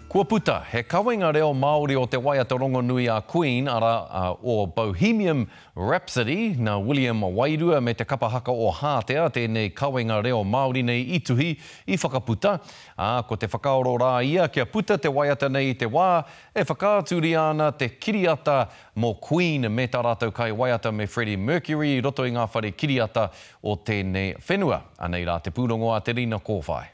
Kua puta he kawenga reo Māori o te waiata rongonui a Queen, arā, o Bohemium Rhapsody, nā William Wairua me te kapa haka o Hātea tēnei kawenga reo Māori nei i tuhi, i whakaputa, ā, ko te whakaaro rā ia kia puta te waiata nei i te wā e whakaaturia ana te kiriata mō Queen me tā rātou kaiwaiata me Freddie Mercury i roto i ngā whare kiriata o tēnei whenua. Anei rā te pūrongo a Te Rina Kōwhai.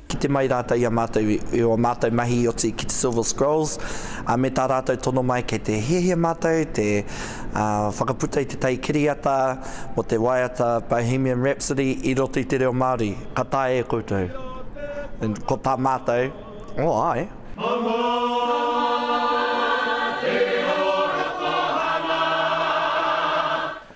Kite mai rātou i a mātou i ō mātou mahi i oti ki te Silver Scrolls, ā, me tā rātou tono mai kei te hiahia mātou te whakaputa i te tai kiriata mō te waiata Bohemian Rhapsody i roto i te reo Māori. Ka taea e koutou. And ko tā mātou, Oh, ae. Mama, te ora tōhanga.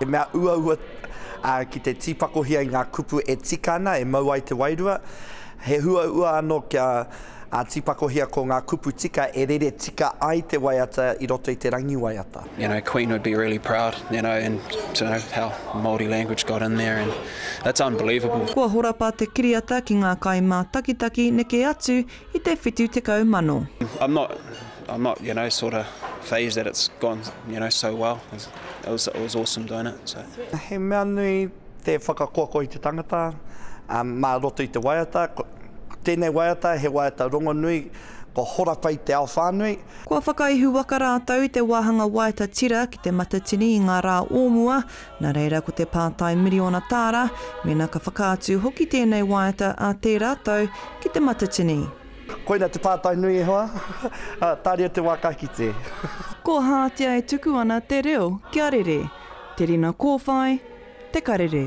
He mea uaua ki te tīpakohia i ngā kupu e tika ana e mau ai te wairua. He huaua anō kia tīpakohia ko ngā kupu tika e rere tika ai te waiata i roto i te rangi waiata. You know Queen would be really proud you know and to know how Māori language got in there and that's unbelievable. Kua horapa te kiriata ki ngā kai mātakitaki neke atu I te whitu tekau mano. I'm not, I'm not, you know, sort of phased that it's gone, you know, so well. It was, it was awesome doing it, so. He mea nui te whakakoakoa i te tangata, mā roto i te waiata. Tēnei waiata, he waiata rongonui, kua hora pai te ao whānui. Kua whakaihuwaka rātou i te wāhanga waiata tira ki te matatini i ngā rā o mua, Nā reira ko te pātai miriona tāra, mēnā ka whakaatu hoki tēnei waiata ā tērā tau ki te matatini. Koina te pātai nui e hoa, ā, tāria te wā ka kite. Kōhātia e tuku ana te reo kia rere, te rina kōwhai, te karere.